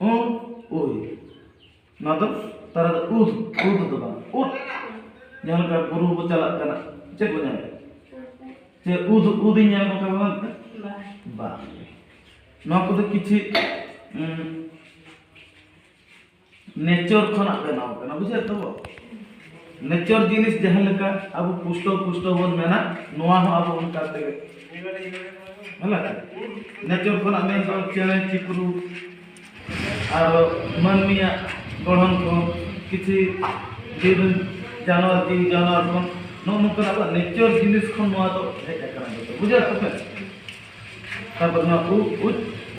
ᱩᱱ ᱩᱭ ᱱᱚᱣᱟ ᱫᱚ ᱛᱟᱨᱟ ᱫᱚ ᱩᱫ ᱩᱫ ᱫᱚ ᱵᱟᱝ ᱩᱫ ᱡᱟᱦᱟᱸ ᱞᱮᱠᱟ ᱵᱩᱨᱩ ᱵᱚ ᱪᱟᱞᱟᱜ ᱠᱟᱱᱟ ᱪᱮᱫ ᱵᱚ ᱧᱟᱢᱟ ᱪᱮ ᱩᱫ ᱩᱫ ᱤᱧ ᱧᱟᱢ ᱠᱟᱜ ᱵᱟᱝ ᱵᱟᱝ ᱱᱚᱣᱟ ᱠᱚᱫᱚ ᱠᱤᱪᱷᱩ ᱱᱮᱪᱚᱨ ᱠᱷᱚᱱᱟᱜ ᱵᱮᱱᱟᱣ ᱠᱟᱱᱟ ᱵᱩᱡᱷᱟᱹᱣ ᱛᱟᱵᱚ ᱱᱮᱪᱚᱨ ᱡᱤᱱᱤᱥ ᱡᱟᱦᱟᱸ ᱞᱮᱠᱟ ᱟᱵᱚ ᱯᱩᱥᱴᱚ ᱯᱩᱥᱴᱚ ᱵᱚᱱ ᱢᱮᱱᱟ ᱱᱚᱣᱟ ᱦᱚᱸ ᱟᱵᱚ ᱚᱱᱠᱟ ᱛᱮᱜᱮ ᱦᱮᱸ ᱱᱮᱪᱚᱨ ᱠᱷᱚᱱᱟᱜ ᱢᱮᱱ ᱫᱚ ᱪᱮᱬᱮ ᱪᱤᱯᱨᱩ ᱟᱨ ᱢᱟᱹᱱᱢᱤᱭᱟᱜ ᱜᱚᱲᱦᱚᱱ ᱠᱚ ᱠᱤᱪᱷᱩ ᱡᱤᱵᱽ ᱡᱟᱱᱣᱟᱨ ᱡᱤᱣᱤ ᱡᱟᱱᱣᱟᱨ ᱠᱷᱚᱱ ᱱᱚᱜᱼᱚ ᱱᱚᱝᱠᱟ ᱟᱵᱚᱣᱟᱜ ᱱᱮᱪᱚᱨ ᱡᱤᱱᱤᱥ ᱠᱷᱚᱱ ᱱᱚᱣᱟ ᱫᱚ ᱦᱮᱡ ᱟᱠᱟᱱᱟ ᱵᱩᱡᱷᱟᱹᱣ ᱛᱟᱯᱮ ᱛᱟᱨᱯᱚᱨ ᱱᱚᱣᱟ ᱩᱵ ᱩᱪ